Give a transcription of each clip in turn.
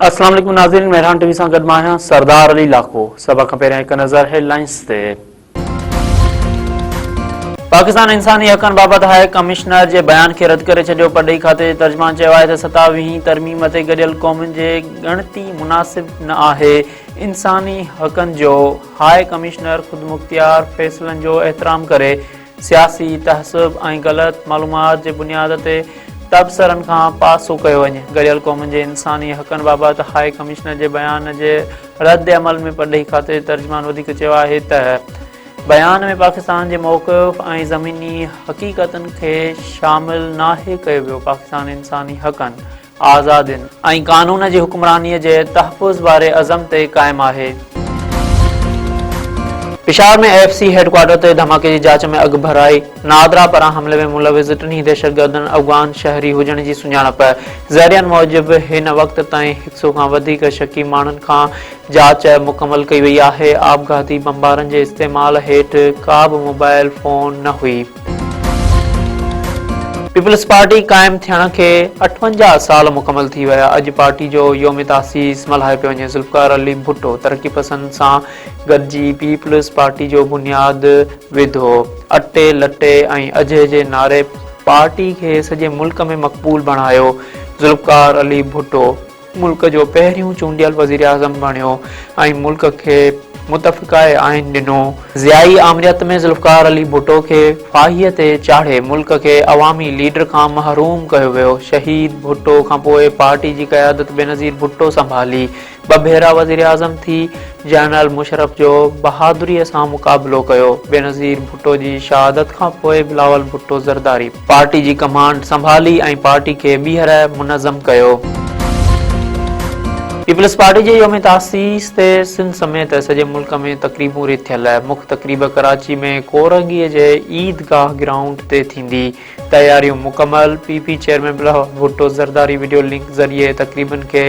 السلام عليڪم ناظرين مهراڻ ٽي وي سان گڏ مان آهيان سردار علي لاکو سڀ کان پهريان هڪ نظر هيڊ لائنز تي پاڪستان انساني حقن بابت هاء ڪمشنر جي بيان کي رد ڪري ڇڏيو پرڏيهي کاتي جي ترجمان چيو آهي ته ستاويهين ترميم تي گڏيل قومن جي ڳڻتي مناسب نه آهي انساني حقن جو هاء ڪمشنر خودمختيار فيصلن جو احترام ڪري سياسي تحسب ۽ غلط معلومات جي بنياد تي تبصرن کان پاسو ڪيو وڃي گڏيل قومن جي انساني حقن بابت هاء ڪمشنر جي بيان جي رد عمل ۾ پرڏيهي کاتي جي ترجمان وڌيڪ چيو آهي ته بيان ۾ پاڪستان جي موقف ۽ زميني حقيقتن کي شامل ناهي ڪيو ويو، پاڪستان انساني حقن، آزادين. ۽ قانون جي حڪمراني جي تحفظ واري عزم تي قائم آهي. پشاور ۾ اي ايف سي هيڊ ڪوارٽر تي ڌماڪي جي جاچ ۾ اڳڀرائي. نادرا پاران حملي ۾ ملوث ٽنهي دهشتگردن افغان شهري هجڻ جي سڃاڻپ، ذريعن موجب هن وقت تائين هڪ سئو کان وڌيڪ شڪي ماڻهن کان جاچ مڪمل ڪئي وئي آهي، آپگهاتي بمبارن جي استعمال هيٺ ڪا به موبائل فون نه هئي. پيپلز پارٽي قائم ٿيڻ کي اٺونجاهه سال مڪمل ٿي ويا، اڄ پارٽي جو يوم تاسيس ملهايو پيو وڃي، ذوالفقار علي ڀٽو ترقي پسند سان گڏجي پيپلز پارٽي جو بنياد وڌو، اٽي لٽي ۽ اجهي جي نعري پارٽي کي سڄي ملڪ ۾ مقبول بڻايو، ذوالفقار علي ڀٽو ملڪ جو پهريون چونڊيل وزيراعظم بڻيو ۽ ملڪ کي متفقه آئين ڏنو، ضيائي آمريت ۾ ذوالفقار علي ڀٽو کي ڦاهيء تي چاڙهي ملڪ کي عوامي ليڊر کان محروم ڪيو ويو، شهيد ڀٽو کانپوء پارٽي جي قيادت بينظير ڀٽو سنڀالي، ٻه ڀيرا وزيراعظم ٿي جنرل مشرف جو بهادري سان مقابلو ڪيو، بينظير ڀٽو جي شهادت کان پوء بلاول ڀٽو زرداري پارٽي جي ڪمانڊ سنڀالي ۽ پارٽي کي ٻيهر منظم ڪيو. پيپلز پارٽي جي يوم تاسيس تي سنڌ سميت سڄي ملڪ ۾ تقريبون رٿيل، مک تقريب ڪراچي ۾ ڪورنگي جي عيد گاهه گرائونڊ تي ٿيندي، تياريون مڪمل، P P chairman Bilawal Bhutto Zardari video link ذريعي تقريبن کي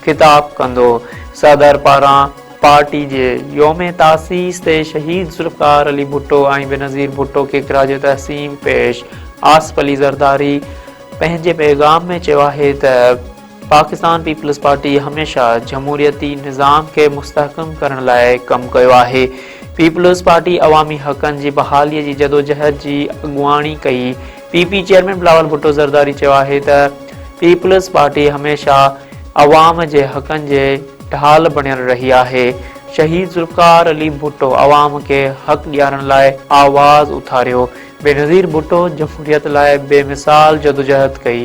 خطاب ڪندو صدر پاران پارٽي جي يوم تاسيس تي شهيد ذوالفقار علي ڀٽو ۽ بينظير ڀٽو کي خراج تحسين پيش آصف علي زرداري پنهنجي پيغام ۾ چيو آهي ته پاڪستان پيپلز پارٽي هميشه جمهوريتي نظام کي مستحڪم ڪرڻ لاء ڪم ڪيو آهي پيپلز پارٽي عوامي حقن جي بحالي جي جدوجهد جي اڳواڻي ڪئي P P chairman Bilawal Bhutto Zardari چيو آهي ته پيپلز پارٽي هميشه عوام جي حقن جي ڍال بڻيل رهي آهي، شهيد ذوالفقار علي ڀٽو عوام کي حق ڏيارڻ لاء آواز اٿاريو، بينظير ڀٽو جمهوريت لاء بي مثال جدوجهد ڪئي.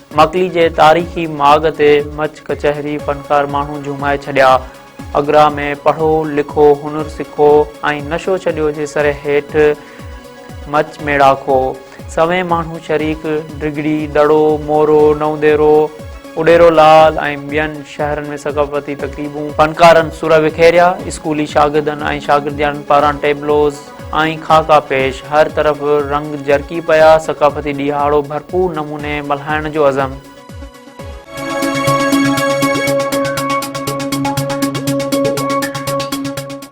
مڪلي جي تاريخي ماڳ تي مچ ڪچهري فنڪار ماڻهو جهومائي ڇڏيا. اگرا ۾ پڙهو، لکو، هنر سکو ۽ نشو ڇڏيو جي سرهي هيٺ مچ ميڙاڪو. سوين ماڻهو شريڪ ڊگهڙي، دڙو، مورو، نونديرو، اڏيرو لال ۽ ٻين شهرن ۾ ثقافتي تقريبون. فنڪارن سر وکيريا، اسڪولي شاگردن ۽ شاگردياڻين پاران ٽيبلوز، ۽ خاڪا پيش، هر طرف رنگ جرڪي پيا، ثقافتي ڏيهاڙو ڀرپور نموني ملهائڻ جو عزم.